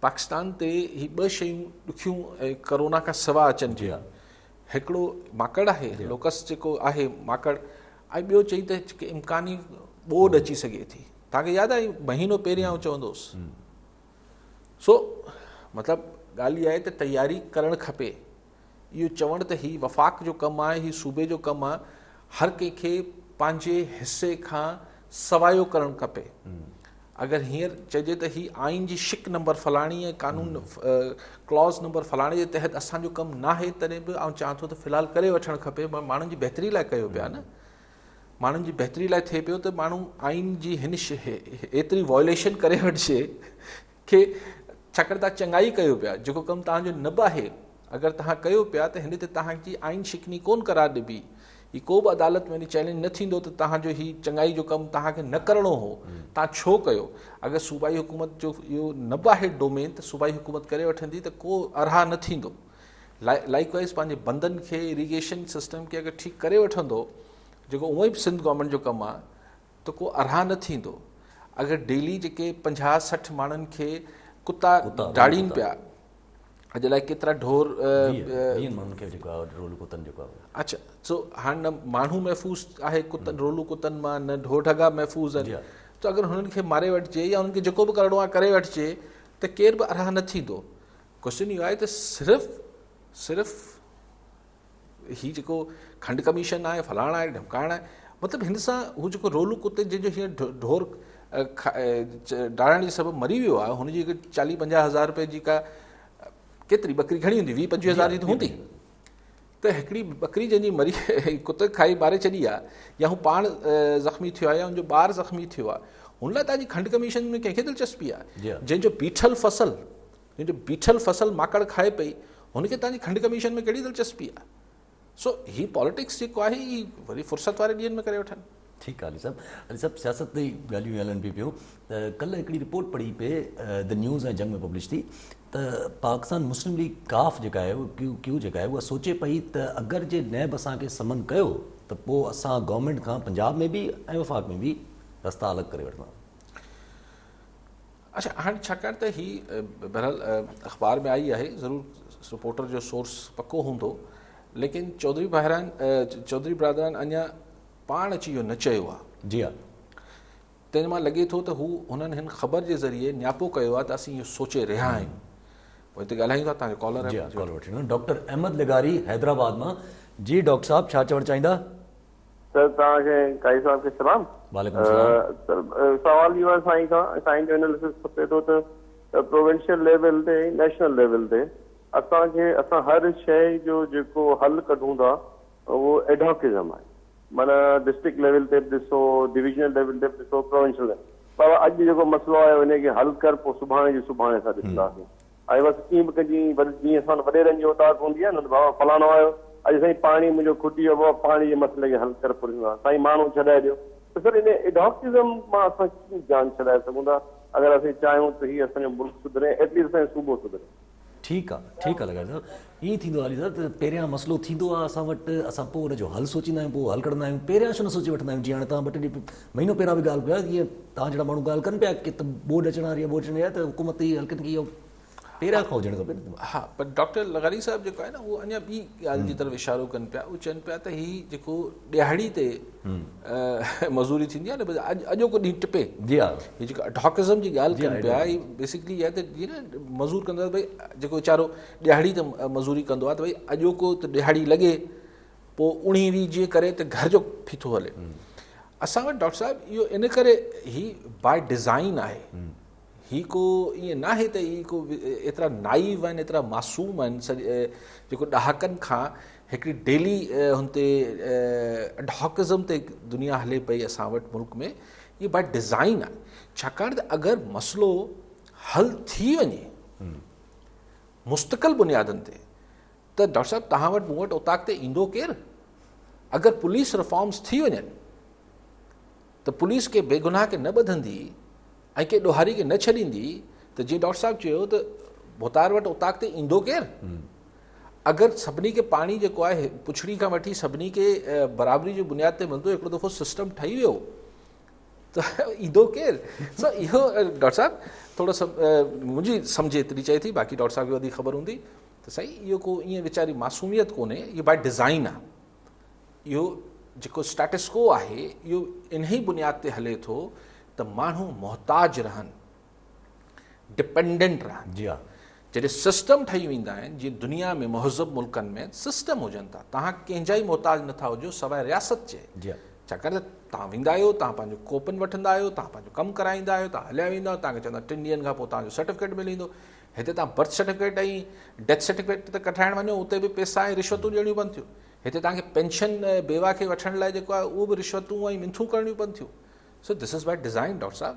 پاڪستان تي هي ٻه شيون ڏکيون ۽ ڪرونا کان سوا اچن جي هڪڙو ماڪڙ آهي لوڪس جيڪو آهي ماڪڙ ۽ ٻيو چئي ته امڪاني ٻوڏ اچي سگهي ٿي تاکي ياد آهي مهينو پهريان آئون چوندو هوس سو مطلب ڳالهه اها آهي ته تياري ڪرڻ کپي. اهو چوڻ ته هي وفاق جو ڪم آهي، هي صوبي جو ڪم آهي، هر ڪنهن کي پنهنجي حصي کان سوايو ڪرڻ کپي. اگر هينئر چئجي ته هي آئين جي شق نمبر فلاڻي ۽ قانون ڪلاز نمبر فلاڻي جي تحت اسان جو ڪم ناهي، تڏهن به آئون چوان ٿو ته في الحال ڪري وٺڻ کپي، ماڻهن جي بهتري لاء ڪيو پيا نه. ماڻهن جي بهتري لاء ٿئي پيو ته ماڻهو آئين جي هن ايتري وائوليشن ڪري وٺجي کي ڇاڪاڻ تان چڱائي ڪيو پيا جيڪو ڪم تان جو نه به آهي اگر تان ڪيو پيا ته هن تي تان جي آئين شڪني ڪون قرار ڏبي هي ڪو به عدالت ۾ چئلينج نه ٿيندو ته تان جو هي چڱائي جو ڪم تان کي نه ڪرڻو هو تان ڇو ڪيو اگر صوبائي حڪومت جو اهو نه به آهي ڊومين ته صوبائي حڪومت ڪري وٺندي ته ڪو ارها نه ٿيندو لائيڪ وائيز پنهنجي بندن کي اريگيشن سسٽم کي اگر ٺيڪ ڪري وٺندو جيڪو اونئن به سنڌ گورنمنٽ جو ڪم آهي ته ڪو ارها نه ٿيندو اگر ڊيلي جيڪي پنجاهه سٺ ماڻهن کي ڪتا ڊاڙين پيا اڄ لاء ڪيترا ڍور اچھا سو هاڻ نه ماڻهو محفوظ آهي ڪتن رولو ڪتن مان نه ڍور ڍڳا محفوظ آهن ته اگر هنن کي ماري وٺجي يا هنن کي جيڪو به ڪرڻو آهي ڪري وٺجي ته ڪير به ارها نه ٿيندو ڪوشچن اهو آهي ته صرف صرف هي جيڪو کنڊ ڪميشن آهي فلاڻ آهي ڍمڪائڻ آهي مطلب هن سان هو جيڪو رولو ڪتي جنهن جو هيئن ڍور ڊاڙڻ جي سبب مري ويو آهي هن جي چاليهه پنجاهه هزار روپيه جي ڪا ڪيتري ٻڪري گهڻي هوندي ويهه پنجويهه هزار جي ته هوندي ته هڪڙي ٻڪري جنهن جي مري ڪتي کائي ماري ڇڏي آهي يا هو پاڻ زخمي ٿيو آهي يا هن جو ٻار زخمي ٿيو آهي هن لاء تاجي کنڊ ڪميشن ۾ ڪنهن کي دلچسپي آهي جنهن جو بيٺل فصل تنهن جو بيٺل فصل ماڪڙ کائي پئي، هن کي تنهنجي کنڊ ڪميشن ۾ ڪهڙي دلچسپي آهي؟ سو هي پاليٽڪس جيڪو آهي هي وري فرصت واري ڏينهن ۾ ڪري وٺن. ٺيڪ آ علي صاحب. علي صاحب سياست تي ئي ڳالهيون هلن پي پيون ته ڪلهه هڪڙي رپورٽ پڙهي پئي The News ۽ جنگ ۾ پبلش ٿي ته پاڪستان مسلم ليگ ڪاف جيڪا آهي ڪيو ڪيو جيڪا آهي اها سوچي پئي ته اگر جي نيب اسان کي سمن ڪيو ته پو اسان گورنمينٽ کان پنجاب ۾ به ۽ وفاق ۾ به رستا الڳ ڪري وٺنداسون. اڇا هاڻي ڇاڪاڻ ته هي بهرحال اخبار ۾ آئي آهي ضرور رپورٽر جو سورس پڪو هوندو ليڪن چوڌري بهران چوڌري برادران اڃا پاڻ اچي اهو نه چيو آهي جي ها تنهن مان لڳي ٿو ته هو هنن هن خبر جي ذريعي نياپو ڪيو آهي ته اسين اهو سوچي رهيا آهيون پوء هتي ڳالهايون ٿا تنهنجو ڪالر جي ها ڪالر وٺي ڊاڪٽر احمد لغاري حيدرآباد مان جي ڊاڪٽر صاحب ڇا چوڻ چاهيندا سر توهان کي قاضي صاحب کي سلام. وعليڪم السلام. سر سوال اهو آهي سائين کان سائين جو اناليسس کپي ٿو ته پروونشل ليول تي ۽ نيشنل ليول تي اسان کي اسان هر شئي جو جيڪو حل ڪڍون ٿا اهو ايڊهاڪزم آهي معنيٰ ڊسٽرڪٽ ليول تي به ڏسو ڊويزنل ليول تي به ڏسو پروونشل ليول پر اڄ جيڪو مسئلو آيو انهي کي حل ڪر پوء سڀاڻي جو سڀاڻي اسان ڏسنداسين. آء بس ڪيئن به ڪجي بس جيئن اسان وٽ وڏيرن جي اوطاق هوندي آهي نه ته بابا فلاڻو آيو اڄ سائين پاڻي منهنجو کٽي ويو بابا پاڻي جي مسئلي کي حل ڪر پرزون آهي سائين ماڻهو ڇڏائي ڏيو ته سر ان ايڊهاڪٽزم مان اسان ڪيئن جان ڇڏائي سگهون ٿا اگر اسين چاهيون ته هي اسان جو ملڪ سڌري ائٽليسٽ اسان جو صوبو سڌري. ٺيڪ آ ٺيڪ آ لغاري صاحب ائين ٿيندو آهي علي صاحب ته پهريان مسئلو ٿيندو آهي اسان وٽ، اسان پوء ان جو حل سوچيندا آهيون، پوء حل ڪڍندا آهيون، پهريان ڇو نه سوچي وٺندا آهيون، جيئن هاڻي توهان ٻه ٽي ڏينهن مهينو پهريان به ڳالهه ڪيو جيئن توهان جهڙا ماڻهو ڳالهه ڪن پيا ڪي ته ٻوڏ اچڻ واري آهي ٻوڏ اچڻ واري آهي ته حڪومت ته اهي حلقن کي اهو پهريان کان هجڻ کپي نه. ها پر ڊاڪٽر لغاري صاحب جيڪو آهي نه اهو اڃا ٻي ڳالهه جي طرف اشارو ڪن پيا اهو چون پيا ته هي جيڪو ڏيهاڙي تي مزوري ٿيندي آهي نه اڄ اڄوڪو ڏينهن ٽپي جي ها هي جيڪو اڊهاڪزم جي ڳالهه ڪن پيا هي بيسڪلي اها ته جيئن نه مزور ڪندو آهي ڀئي جيڪو ويچارو ڏهاڙي تي مزوري ڪندو آهي ته ڀئي اڄوڪو ته ڏهاڙي لڳي پوء اڻي وي جيئن ڪري ته گهر جو ڦيٿو هلي اسان وٽ ڊاڪٽر صاحب اهو ان ڪري هي باء ڊيزائن آهي هي ڪو ائين نه آهي ته هي ڪو ايترا نائيو آهن ايترا معصوم آهن جيڪو ڏهاڪن کان هڪڙي ڊيلي هن تي ڊهاڪزم تي دنيا هلي پئي اسان وٽ ملڪ ۾ هي باء ڊيزائن آهي ڇاڪاڻ ته اگر مسئلو حل ٿي وڃي مستقل بنيادن تي ته ڊاڪٽر صاحب توهان وٽ مون وٽ اوطاق تي ايندو ڪير؟ اگر پوليس رفارمز ٿي وڃن ته پوليس ڪي بي گناهه کي نه ٻڌندي ۽ ڪي ڏوهاري کي نه ڇڏيندي ته جيئن ڊاڪٽر صاحب چيو ته ڀوتار وٽ اوطاق تي ايندو ڪير؟ اگر سڀني کي پاڻي جيڪو آهي پڇڙي کان وٺي سڀني کي برابري جي بنياد تي ملندو هڪڙو دفعو سسٽم ٺهي ويو ته ايندو ڪير؟ سو اهو ڊاڪٽر صاحب ٿورو سا منهنجي سمجهه ايتري چئي ٿي باقي ڊاڪٽر صاحب کي وڌيڪ خبر هوندي ته سائين اهو ڪو ائين ويچاري معصوميت ڪونهي اهو باء ڊزائن آهي اهو جيڪو اسٽاٽسڪو آهي اهو انهي بنياد تي هلي ٿو ته ماڻهو محتاج رهن ڊپنڊنٽ رهن جي ها جڏهن سسٽم ٺهي ويندا آهن جي دنيا ۾ مهذب ملڪن ۾ سسٽم هجن ٿا توهان ڪنهن جا ئي محتاج نٿا هجو سواء رياست جي جي ها ڇاڪاڻ ته توهان ويندا آهيو توهان پنهنجو ڪوپن وٺندا آهيو توهان پنهنجو ڪم ڪرائيندا آهيو توهان هليا ويندا آهيو توهان کي چوندا ٽن ڏينهن کان پوء توهان جو سرٽيفڪيٽ ملي ويندو هتي توهان برٿ سرٽيفڪيٽ ۽ ڊيٿ سرٽيفڪيٽ ته ڪڍرائڻ وڃو اتي به پيسا ۽ رشوتون ڏيڻيون پون ٿيون هتي توهان کي پينشن بيوا کي وٺڻ لاء جيڪو آهي اهو به رشوتون ۽ منٿون ڪرڻيون پون ٿيون so this is by design doctor صاحب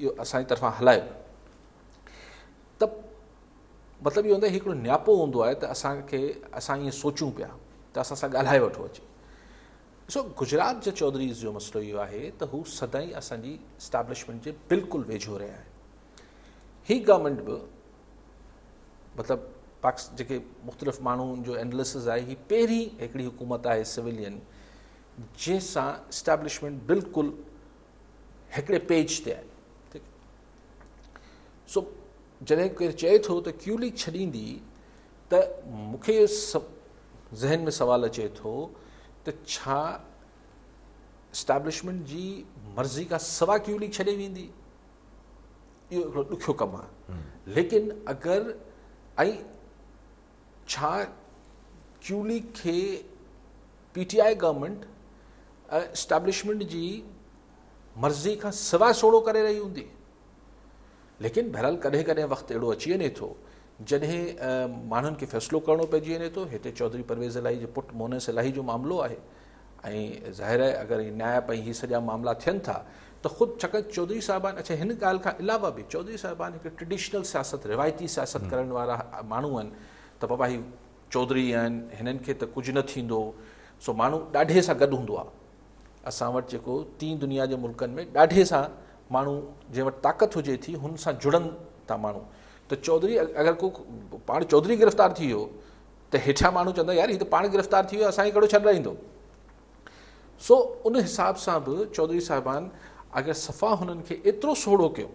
اهو اسان جي طرفان هلايو ته مطلب اهو هوندو آهي هي هڪڙو نياپو هوندو آهي ته اسان کي اسان ائين سوچون پيا ته اسان سان ڳالهائي وٺو اچي ڏسو گجرات جي چوڌريز جو مسئلو اهو آهي ته هو سدائين اسان جي اسٽيبلشمنٽ جي بلڪل ويجهو رهيا آهن هي گورنمنٽ به مطلب پاڪس جيڪي مختلف ماڻهن جو اینالسز آهي هي پهرين هڪڙي حڪومت آهي سويلين جنهن سان اسٽيبلشمنٽ بلڪل هڪڙي پيج تي آهي ٺيڪ سو جڏهن ڪير چئي ٿو ته ڪيو ليگ ڇڏيندي ته مون کي ذهن ۾ سوال اچي ٿو ته ڇا اسٽيبلشمنٽ جي مرضي کان سوا ڪيو ليگ ڇڏي ويندي اهو هڪڙو ڏکيو ڪم آهي ليڪن اگر ڇا چولي کي P T I government ۽ establishment جي مرضي کان سواء سوڙهو ڪري رهي هوندي ليڪن بهرحال ڪڏهن ڪڏهن وقت اهڙو اچي وڃي ٿو جڏهن ماڻهن کي فيصلو ڪرڻو پئجي وڃي ٿو هتي چوڌري پرويز الاهي جي پٽ مونس الاهي جو معاملو آهي ۽ ظاهر آهي اگر هي نائب ۽ هي سڄا معاملا ٿين ٿا ته خود ڇاڪاڻ چوڌري صاحبان اڇا هن ڳالهه کان علاوه به چوڌري صاحبان هڪ ٽريڊيشنل سياست روايتي سياست ڪرڻ وارا ماڻهو آهن ته بابا هي چوڌري آهن هنن کي ته ڪجهه نه ٿيندو سو ماڻهو ڏاڍي سان گڏ هوندو آهي اسان وٽ جيڪو تين دنيا جي ملڪن ۾ ڏاڍي سان ماڻهو جنهن وٽ طاقت هجي ٿي هن سان جڙن ٿا ماڻهو ته چوڌري اگر ڪو پاڻ چوڌري گرفتار ٿي ويو ته هيٺيان ماڻهو چوندا يار هي ته پاڻ گرفتار ٿي ويو اسان کي ڪهڙو ڇڏرائيندو سو ان حساب سان به چوڌري صاحبان اگر صفا هنن کي ايترو سوڙهو ڪيو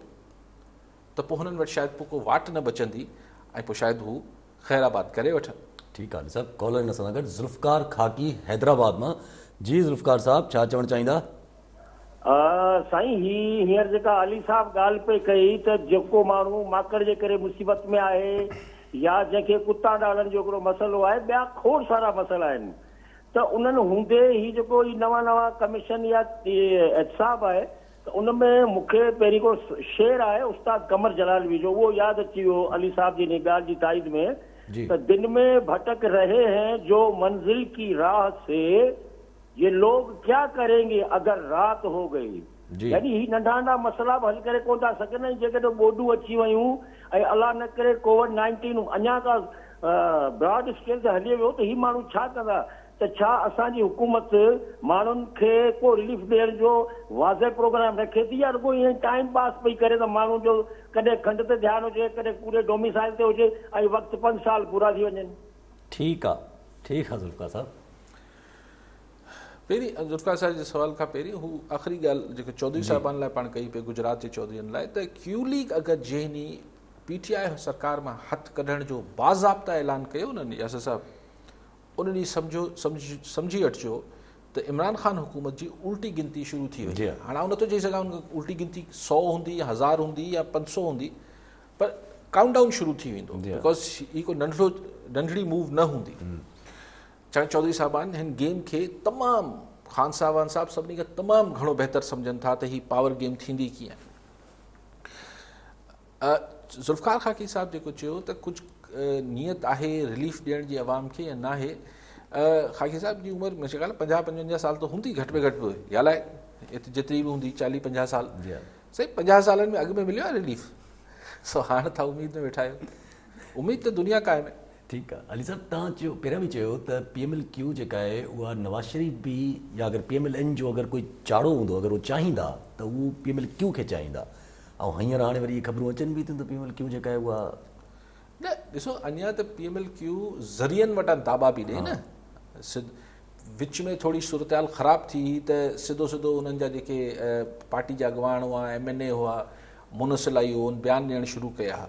ته پوء هنن وٽ شايد پوء ڪو واٽ نه بچندي ۽ پوء شايد هو خير آباد ڪري وٺن. ٺيڪ آ نثار ڪالر ان سان گڏ ذوالفقار خاڪي حيدرآباد مان جي ذوالفقار صاحب ڇا چوڻ چاهيندا. سائين هي هينئر جيڪا علي صاحب ڳالهه پئي ڪئي ته جيڪو ماڻهو ماڪڙ جي ڪري مصيبت ۾ آهي يا جنهن کي ڪتا ڊاڙن جو هڪڙو مسئلو آهي ٻيا کوڙ سارا مسئلا آهن ته انهن هوندي هي جيڪو هي نوان نوان ڪميشن يا احتساب آهي ته ان ۾ مون کي پهرين هڪڙو شعر آهي استاد قمر جلالوي جو اهو ياد اچي ويو علي صاحب جي انهي ڳالهه جي تائيد ۾ ته دن ۾ ڀٽڪ رهي هين جو منزل ڪي راهه سي يي لوگ ڪيا ڪرين گي اگر رات هو گئي يعني هي ننڍا ننڍا مسئلا به حل ڪري ڪونه ٿا سگهن ۽ جيڪڏهن ٻوڏون اچي ويون ۽ الله نه ڪري ڪووڊ نائنٽين اڃا ڪا براڊ اسڪيل تي هلي ويو ته هي ماڻهو ڇا ڪندا ته ڇا اسان جي حڪومت ماڻهن کي ڪو رليف ڏيڻ جو واضح پروگرام رکي ٿي يا رڳو ائين ٽائيم پاس پئي ڪري ته ماڻهن جو ڪڏهن کنڊ تي ڌيان هجي ڪڏهن پوري ڊوميسائل تي هجي ۽ وقت پنج سال پورا ٿي وڃن. ٺيڪ آ ٺيڪ آ ذوالفقار صاحب. پهرين ذوالفقار صاحب جي سوال کان پهرين هو آخري ڳالهه جيڪا چوڌري جي. صاحبان لاء پاڻ ڪئي پئي گجرات جي چوڌرين لاء ته ڪيو ليگ اگر جنهن پي ٽي آء سرڪار مان هٿ ڪڍڻ جو باضابطه اعلان ڪيو نه ياسر صاحب ان ڏينهن سمجهو سمجهي وٺجو ته عمران خان حڪومت جي الٽي گنتي شروع ٿي وئي جي. هاڻ آئون نٿو چئي سگهان الٽي گنتي سو هوندي يا هزار هوندي يا پنج سو هوندي پر ڪائونٽ ڊائون شروع ٿي ويندو بڪاز هي ڪو ننڍڙو ننڍڙي موو نه هوندي سائين چوڌري صاحبان هن گيم کي تمام خان صاحبان صاحب سڀني کان تمام گهڻو بهتر سمجهن ٿا ته هي پاور گيم ٿيندي ڪيئن ذوالفقار خاڪي صاحب جيڪو چيو ته ڪجهه نيت آهي رليف ڏيڻ جي عوام کي يا ناهي خاڪي صاحب جي عمر مجھے خيال پنجاهه پنجونجاهه سال ته هوندي گهٽ ۾ گهٽ به يا لائي جيتري به هوندي چاليهه پنجاهه سال سائين پنجاهه سالن ۾ اڳ ۾ مليو آهي رليف سو هاڻ تھا اميد ۾ ويٺا آهيو اميد ته دنيا قائم آهي ٺيڪ آ علي صاحب توهان چيو پهريان به چيو ته پي ايم ايل ڪيو جيڪا آهي اها نواز شريف به يا اگر پي ايم ايل اين جو اگر ڪوئي چاڙهو هوندو اگر هو چاهيندا ته هو پي ايم ايل ڪيو کي چاهيندا ۽ هينئر هاڻي وري اهي خبرون اچن به ٿيون ته پي ايم ايل ڪيو جيڪا آهي اها نه ڏسو اڃا ته پي ايم ايل ڪيو ذريعن وٽان داٻا پي ڏئي نه سڌ وچ ۾ ٿوري صورتحال خراب ٿي هئي ته سڌو سڌو انهن جا جيڪي پارٽي جا اڳواڻ هئا ايم اين اي هئا منسل آئي هو ان بيان ڏيڻ شروع ڪيا هئا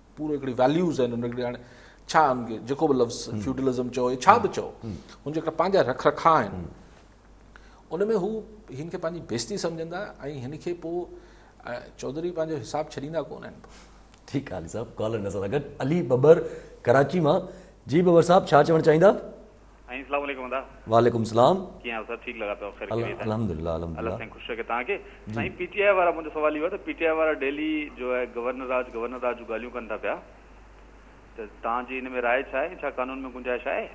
پورو هڪڙي ويليوز آهن ان جا هاڻي ڇا ان کي جيڪو به لفظ فيوڊلزم چئو يا ڇا به چئو ان جا هڪڙا پنهنجا رک رکا آهن ان ۾ هو هن کي پنهنجي بيستي سمجهندا ۽ هن کي پوء چوڌري پنهنجو حساب ڇڏيندا ڪون آهن پوء ٺيڪ آهي علي صاحب ڪالر ان سان گڏ علي ٻٻر ڪراچي مان جي ٻٻر صاحب ڇا چوڻ چاهيندا ۽ اسلام عليڪم ادا. وعليڪم السلام. ڪيئن آهيو سر ٺيڪ لڳا پيا خير خيريت آهي الحمد الله الحمد الله سائين خوش رکي توهان کي سائين پي ٽي آء وارا منهنجو سوال اهو آهي ته پي ٽي آء وارا ڊيلي جو آهي گورنر راج گورنر راج جون ڳالهيون ڪن ٿا پيا ته توهان جي ان ۾ راء ڇا آهي ڇا قانون ۾ گنجائش آهي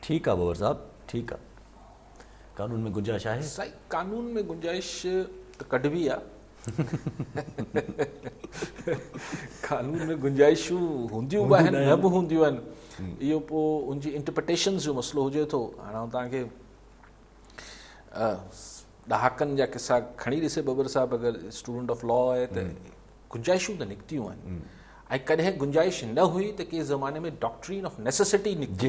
ٺيڪ آهي بابر صاحب ٺيڪ آهي قانون ۾ گنجائش آهي سائين قانون ۾ گنجائش ته ڪڍبي آهي قانون ۾ گنجائشون هونديون به آهن نه به هونديون آهن اهو پوء ان جي انٽرپريٽيشنز جو مسئلو هجي ٿو هاڻي آئون توهان کي ڏهاڪن جا قصا کڻي ڏسي ببر صاحب اگر اسٽوڊنٽ آف لا آهي ته گنجائشون ته نڪتيون آهن ۽ ڪڏهن گنجائش نه هئي ته ڪنهن زماني ۾ ڊاڪٽرين آف نيسيسٽي نڪتي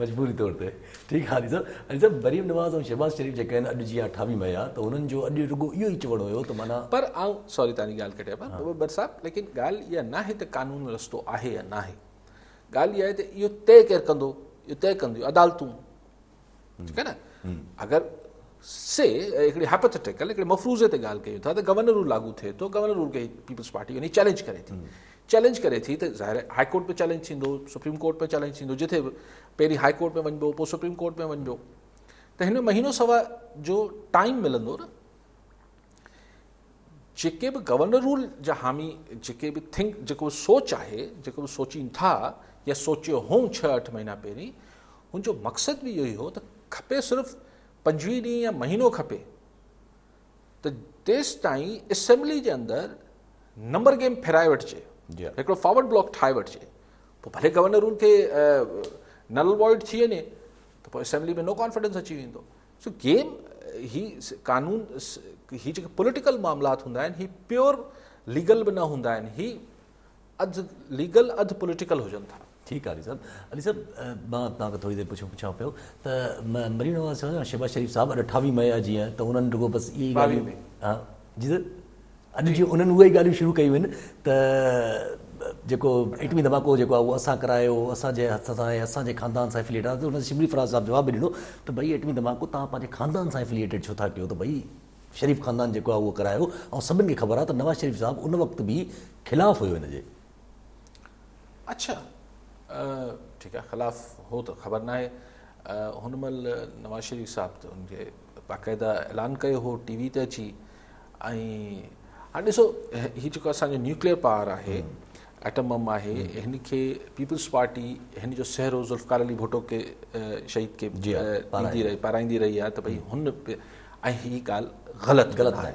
مجبوري طور تي ٺيڪ آ علي صاحب. علي صاحب مريم نواز ۽ شهباز شريف جيڪا آهن اڄ جيان ٺاوي مهيا ته هنن جو اڄ رڳو اهو ئي چوڻ هيو ته معنيٰ. پر آئون سوري توهان جي ڳالهه ڪٽيا پيا بر صاحب ليڪن ڳالهه اها ناهي ته قانون رستو آهي يا ناهي ڳالهه اها آهي ته اهو طئي ڪير ڪندو اهو طئي ڪنديون عدالتون. ٺيڪ آهي نه اگر سي هڪڙي هائپوٿيٽيڪل هڪڙي مفروضي تي ڳالهه ڪيون ٿا ته گورنر رول لاڳو ٿئي ٿو گورنر رول کي پيپلز پارٽي وڃي چئلينج ڪري ٿي چئلينج ڪري ٿي ته ظاهر آهي هاء ڪورٽ ۾ چئلينج ٿيندو سپريم ڪورٽ ۾ چئلينج ٿيندو جتي به پهرين هاء ڪورٽ ۾ وڃبو پوء سپريم ڪورٽ ۾ وڃبو ته هن مهينو سوا جو ٽائم ملندو نه جيڪي به گورنر رول جا حامي جيڪي به ٿنڪ جيڪو به سوچ آهي جيڪو به سوچين ٿا يا سوچيو هون ڇهه اٺ مهينا پهرين ان جو مقصد به اهو ئي هو ته کپي صرف پنجويهه ڏينهن يا مهينو کپي ته تيس تائين اسيمبلي جي اندر نمبر گيم ڦيرائي وٺجي جي هڪڙو فارورڊ بلاڪ ٺاهي وٺجي پوء ڀلي گورنر رول کي نل وائڊ ٿي وڃي ته پوء اسيمبلي ۾ نو ڪانفيڊنس اچي ويندو سو گيم هي قانون هي جيڪي پوليٽيڪل معاملات هوندا آهن هي پيور ليگل به نه هوندا آهن هي اڌ ليگل اڌ پوليٽيڪل هجن ٿا ٺيڪ آهي علي صاحب علي صاحب مان توهان کي ٿوري دير پڇو پڇان پيو ته مرينو شهباز شريف صاحب اٺاويهه مئي جيئن ته انهن رڳو بس اي ڳالهيون جيئن اڄ جي انهن اهي ئي ڳالهيون شروع ڪيون آهن ته جيڪو ايٽمي ڌماڪو جيڪو آهي اهو اسان ڪرايو، اسان جي هٿ سان آهي، اسان جي خاندان سان ائفليئيٽڊ آهي ته ان تي شبلي فراز صاحب جواب به ڏنو ته ڀئي ايٽمي ڌماڪو توهان پنهنجي خاندان سان ائفليئيٽڊ ڇو ٿا ڪيو ته ڀئي شريف خاندان جيڪو آهي اهو ڪرايو ۽ سڀن کي خبر آهي ته نواز شريف صاحب ان وقت به خلاف هيو ان جي. اڇا ٺيڪ آ خلاف هو ته خبر ناهي هن مهل نواز شريف صاحب ته ان کي باقاعده اعلان ڪيو هو ٽي وي تي اچي ۽ هاڻي ڏسو هي جيڪو اسانجو نيوڪليئر پاور آهي ايٽم بم آهي هن کي پيپلز پارٽي هن جو سهرو ذوالفقار علي ڀٽو کي شهيد کي ڏيندي رهي پارائيندي رهي آهي ته ڀئي هن ۽ هي ڳالهه غلط غلط آهي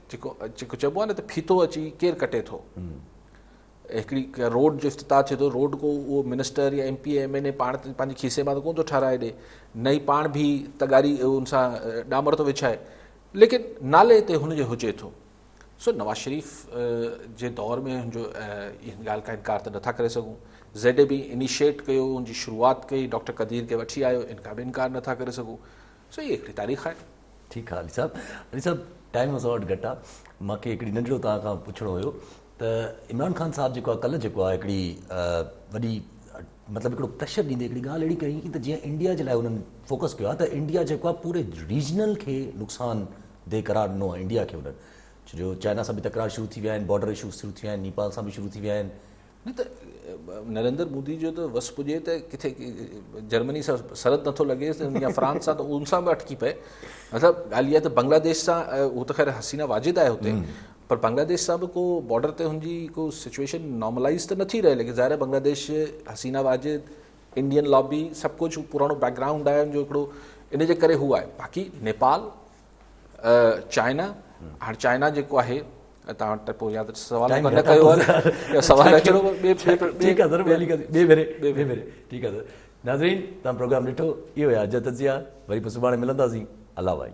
جيڪو جيڪو چئبو آهي نه ته ڦيٿو اچي ڪير ڪٽي ٿو هڪڙي روڊ جو افتتاح ٿئي ٿو روڊ ڪو اهو منسٽر يا M P M N A پاڻ پنهنجي کيسي مان ته ڪون ٿو ٺاهرائي ڏي نه ئي پاڻ بي تغاري ان سان ڏامر ٿو وڇائي ليڪن نالي تي هن جو هجي ٿو سو نواز شريف جي دور ۾ هن جو ان ڳالهه کان انڪار ته نٿا ڪري سگھون زيڊ اي بي انيشيٽ ڪيو ان جي شروعات ڪئي ڊاڪٽر قدير کي وٺي آيو ان کان به انڪار نٿا ڪري سگھون سو هي هڪڙي تاريخ آهي. ٺيڪ آ علي صاحب. علي صاحب ٽائيم اسان وٽ گهٽ آ. مان کي هڪڙي ننڍڙو توهان کان پڇڻو هيو ته عمران خان صاحب جيڪو آ ڪلهه جيڪو آ هڪڙي وڏي مطلب هڪڙو پريشر ڏيندي هڪڙي ڳالهه اهڙي ڪئي ته جيئن انڊيا جي لاء هنن فوڪس ڪيو آ ته انڊيا جيڪو آ پوري ريجنل کي نقصان ده قرار ڏنو آ انڊيا کي هنن ڇو جو چائنا سان به تڪرار شروع ٿي ويا آهن بارڊر اشوز شروع ٿي ويا آهن نيپال سان به شروع ٿي ويا آهن نه ته نريندر مودي جو ته وس پڄي ته ڪٿي جرمني سان سرحد نٿو لڳيس يا فرانس سان ته ان سان به اٽڪي پئي مطلب ڳالهه اها ته بنگلاديش سان هو ته خير حسينه واجد آهي هتي پر بنگلاديش سان به ڪو بارڊر تي هن جي ڪو سچويشن نارملائز ته نٿي رهي ليڪن ظاهر بنگلاديش حسينه واجد انڊين لابي سڀ ڪجهه پراڻو بيڪگراؤنڊ آهي ان جو هڪڙو ان جي ڪري هو آهي باقي نيپال چائنا هاڻ چائنا جيڪو آهي توهان وٽ پوء ياد سوال نه ڪيو آهي سوال اچڻو ٻي ٺيڪ آهي ٻي ڪڏي ٻي ڀيري ٻي ڀيري ٺيڪ آهي ناظرين تان پروگرام ڏٺو اهو آهي اڄ تجزيا وري پوء سڀاڻي ملنداسين الله وائي